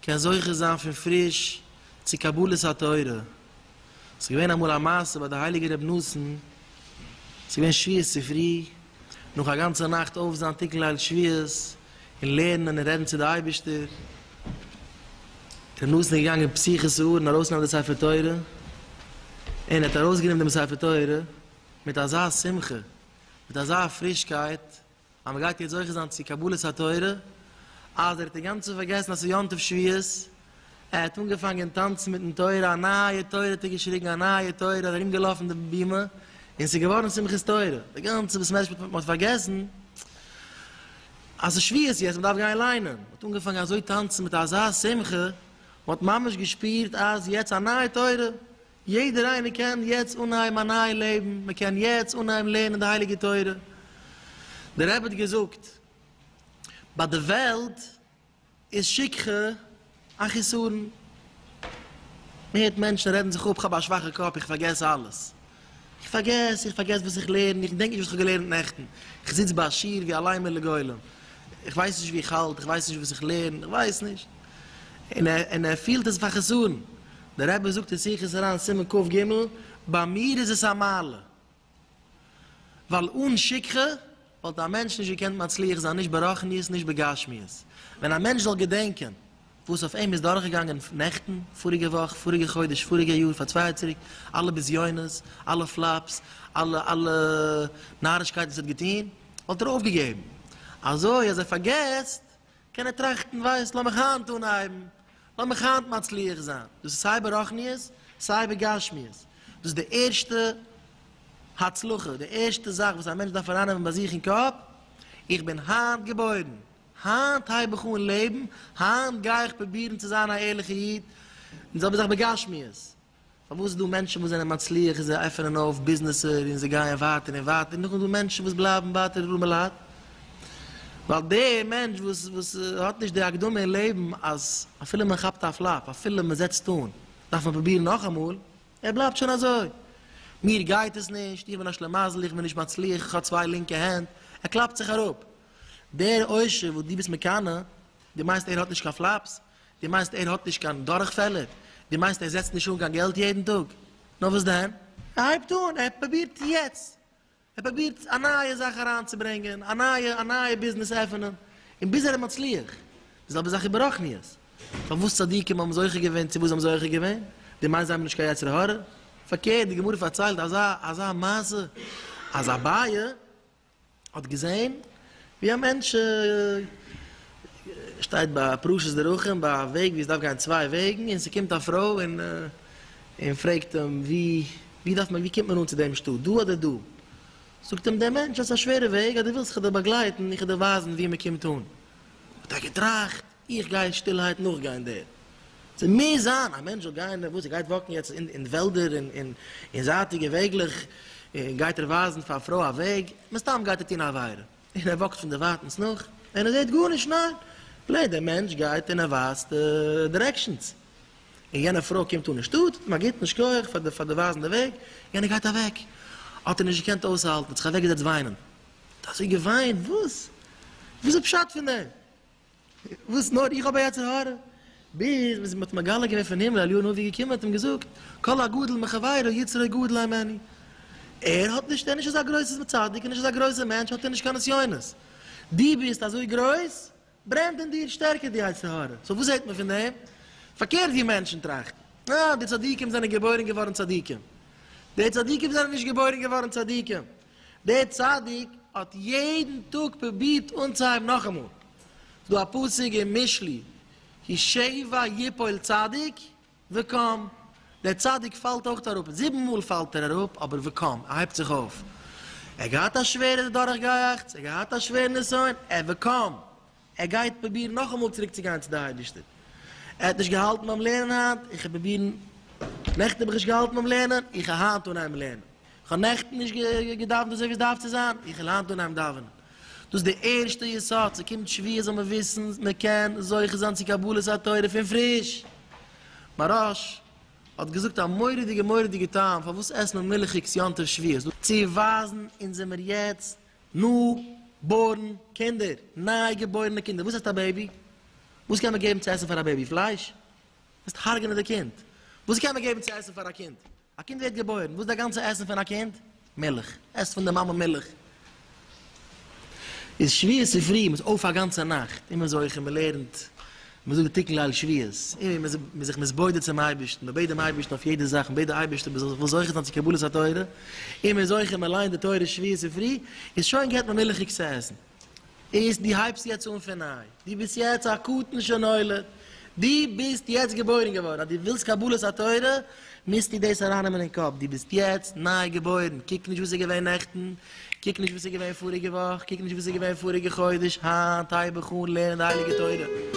קען זוכה זיין פון פריש צו קבלת התורה. ס'איז געווען אמאל א מעשה ביי די הייליגע רבי נתן, ס'איז געווען שביעות צופרי, נאך א גאנצע נאכט אויף זיין תיקון ליל שביעות און לערנען און רעדן צו די אייבערשטער, רבי נתן איז געגאנגען פסיכות ארון ארויסנעמען די ספר תורה, און ער האט ארויסגענומען דעם ספר תורה מיט אזא שמחה, מיט אזא פרישקייט. אז מען גייט יעצט זוכה זיין צו קבלת התורה, אז ער האט אינגאנצן פארגעסן אז ס'איז יום טוב שביעית, ער האט אנגעפאנגען טאנצן מיטן תורה, א נייע תורה האט ער געשריגן, א נייע תורה, ער איז ארום געלאפן די בימה, און ס'איז געווארן שמחת תורה, די גאנצע בית מדרש, מען האט פארגעסן אז ס'איז שביעית יעצט, מען דארף גיין ליינען, מען האט אנגעפאנגען אזוי טאנצן מיט אזא שמחה, מען האט ממש געשפירט אז יעצט א נייע תורה. יעדער איינער קען יעצט אנהייבן א נייע לעבן, מען קען יעצט אנהייבן לערנען די הייליגע תורה. דער רבי האט געזאגט, ביי די וועלט איז שכחה א חיסרון. מען הערט מענטשן רעדן זיך אפ, כ'האב א שוואכע קאפ, איך פארגעס אלעס. איך פארגעס, איך פארגעס וואס איך לערן, איך דענק נישט וואס כ'האב געלערנט נעכטן. איך זיץ ביי א שיעור ווי א ליימער לגולם. איך ווייס נישט וואו איך האלט, איך ווייס נישט וואס איך לערן, איך ווייס נישט. און ער פילט עס פאר חיסרון. דער רבי זאגט אין שיחות הר ן, סימן קג, ביי מיר איז עס א מעלה, ווייל אן שכחה וואלט א מענטש נישט געקענט מצליח זיין נישט ברחניות נישט בגשמיות, ווען א מענטש זאל געדענקען וואס אויף אים איז דורכגעגאנגען נעכטן, פאריגע וואך, פאריגע חודש, פאריגע יאר, פאר צוויי יאר צוריק, אלע בזיונות, אלע פלאפס, אלע אלע נארישקייטן וואס ער האט געטון, וואלט ער אויפגעגעבן, אזוי אז ער פארגעסט קען ער טראכטן, ווייסט, לאמיך היינט אנהייבן, לאמיך היינט מצליח זיין. דאס איז סיי ברחניות, סיי בגשמיות. דאס איז די ערשטע הצלחה, די ערשטע זאך וואס א מענטש דארף ארייננעמען ביי זיך אין קאפ, איך בין היינט געבוירן, היינט הייב איך אן לעבן, היינט גיי איך פרובירן צו זיין א ערליכע איד, און די זעלבע זאך בגשמיות. פארוואס איז דא מענטשן וואס זענען מצליח און זיי עפענען אויף ביזנעסער און זיי גייען ווייטער און ווייטער און נאכדעם איז דא מענטשן וואס בלייבן ווייטער ארעמע לייט? ווייל דער מענטש וואס וואס האט נישט די הקדמה אין לעבן אז אפילו מען כאפט א פלאפ, אפילו מען זעצט אן, דארף מען פרובירן נאכאמאל, ער בלייבט שוין אזוי. מיר גייט עס נישט, איך בין א שלעמאזל, איך בין נישט מצליח, איך האב צוויי לינקע הענט, ער קלאפט זיך אראפ. דער עושר וואס דו ביסט מקנא, דו מיינסט ער האט נישט קיין פלאפס? דו מיינסט ער האט נישט קיין דורכפעלער? דו מיינסט ער זעצט נישט אן קיין געלט יעדן טאג? נאר וואס דען? ער הייבט אן, ער פרובירט יעצט, ער פרובירט א נייע זאך אריינצוברענגען, א נייע א נייע ביזנעס עפענען, און ביז ער איז מצליח. די זעלבע זאך איז ברוחניות. פארוואס צדיקים האבן זוכה געווען צו וואס זיי האבן זוכה געווען? דו מיינסט זיי האבן נישט קיין יצר הרע? פארקערט, די גמרא פארציילט אזא אזא מעשה, אז אביי האט געזעהן ווי א מענטש שטייט ביי פרשת דרכים ביי א וועג ווי עס דארף גיין צוויי וועגן און ס'קומט א פרוי און און פרעגט אים ווי ווי דארף מען ווי קומט מען אן צו דעם שטאט דא אדער דא? זאגט אים דער מענטש אז ס'איז א שווערע וועג אז דו ווילסט איך זאל דיר באגלייטן איך וועל דיר ווייזן ווי מען קומט אן האט ער געטראכט איך גיי אין שטילהייט נאכגיין דער. צו מוז זיין א מענטש זאל גיין, וואס ער גייט וואקן יעצט אין וועלדער און אין זייטיגע וועגלעך, און גייט ער ווייזן פאר א פרוי א וועג, מסתם גייט ער טון א עבירה, און ער וואקט פון דערווייטענס נאך, און ער זעט גארנישט, ניין? פלעין דער מענטש גייט און ער ווייזט דירעקשאנס, און יענע פרוי קומט אן אין שטאט, טוט אים א גוטן, שכוח פאר פאר די ווייזן די וועג, יענער גייט אוועק, האט ער נישט געקענט אויסהאלטן, האט זיך אוועקגעזעצט וויינען, האט אזוי געוויינט, וואס? וואס איז פשט פון דעם? וואס נאר איך האב א יצר הרע, ביז ווען מ'האט מגלה געווען פון הימל אליהו הנביא געקומען האט אים געזאגט, כל הגדול מחבירו יצרו גדול הוא ממני, ער האט נישט, ער איז נישט אזא גרויסע צדיק, נישט אזא גרויסע מענטש, האט ער נישט קיין נסיונות, דו ביסט אזוי גרויס, ברענט אין דיר שטערקער די יצר הרע, סאו וואס זעט מען פון דעם? פארקערט ווי מענטשן טראכטן, אה, די צדיקים זענען געבוירן געווארן צדיקים, די צדיקים זענען נישט געבוירן געווארן צדיקים, דער צדיק האט יעדן טאג פרובירט אנצוהייבן נאכאמאל, ס'דא א פסוק אין משלי, כי שבע יפול צדיק וקם, דער צדיק פאלט אויך אראפ, זיבן מאל פאלט ער אראפ אבער וקם, ער הייבט זיך אויף, ער האט געהאט א שווערע דורכגעיאכטס, ער האט געהאט א שווערע נסיון, ער וקם. ער גייט פרובירן נאכאמאל צוריקצוגיין צו דער אייבערשטער. ער האט נישט געהאלטן ביים לערנען היינט, איך וועל פרובירן, נעכטן האב איך נישט געהאלטן ביים לערנען, איך וועל היינט אנהייבן לערנען. איך האב נעכטן נישט געדאוונט אזוי ווי עס דארף צו זיין, איך וועל היינט אנהייבן דאווענען. דאס איז דער ערשטער יסוד, ס'קומט שביעי זאל מען וויסן מען קען זוכה זיין צו קבלת התורה פון פריש. מהרש א האט געזאגט א מורא'דיגע מורא'דיגע טעם פארוואס עסט מען מילכיגס יום טוב שביעי, צו ווייזן אונז זעמיר יעצט ניו בארן קינדער, ניי געבוירענע קינדער, וואס הייסט א בעיבי? וואס קען מען געבן צו עסן פאר א בעיבי? פלייש? וועסט הרג'נען די קינד. וואס קען מען געבן צו עסן פאר א קינד? א קינד ווערט געבוירן, וואס איז די גאנצע עסן פון א קינד? מילך. עסט פון די מאמע מילך. איז שביעי צופרי, מ'איז אויף א גאנצע נאכט, און מ'איז זוכה, מ'לערנט מען זאגט די תיקון ליל שביעית, און מען איז זיך מתבודד צום אייבערשטן, מען בעט דעם אייבערשטן אויף יעדע זאך, מען בעט די אייבערשטער מען זאל זיך וואס זוכה זיין צו קבלת התורה, און מען איז זוכה מען ליינט די תורה שביעית צופרי, איז שוין געט מען מילכיג צו עסן, איז דו הייבסט יעצט אן פון ניי, דו ביסט יעצט א קטן שנולד, דו ביסט יעצט געבוירן געווארן, אז דו ווילסט קבלת התורה, מוזטו דאס ארייננעמען אין קאפ, דו ביסט יעצט ניי געבוירן, קוק נישט וואס איז געווען נעכטן, קוק נישט וואס איז געווען פאריגע וואך, קוק נישט וואס איז געווען פאריגע חודש, היינט הייב איך אן לערנען די הייליגע תורה.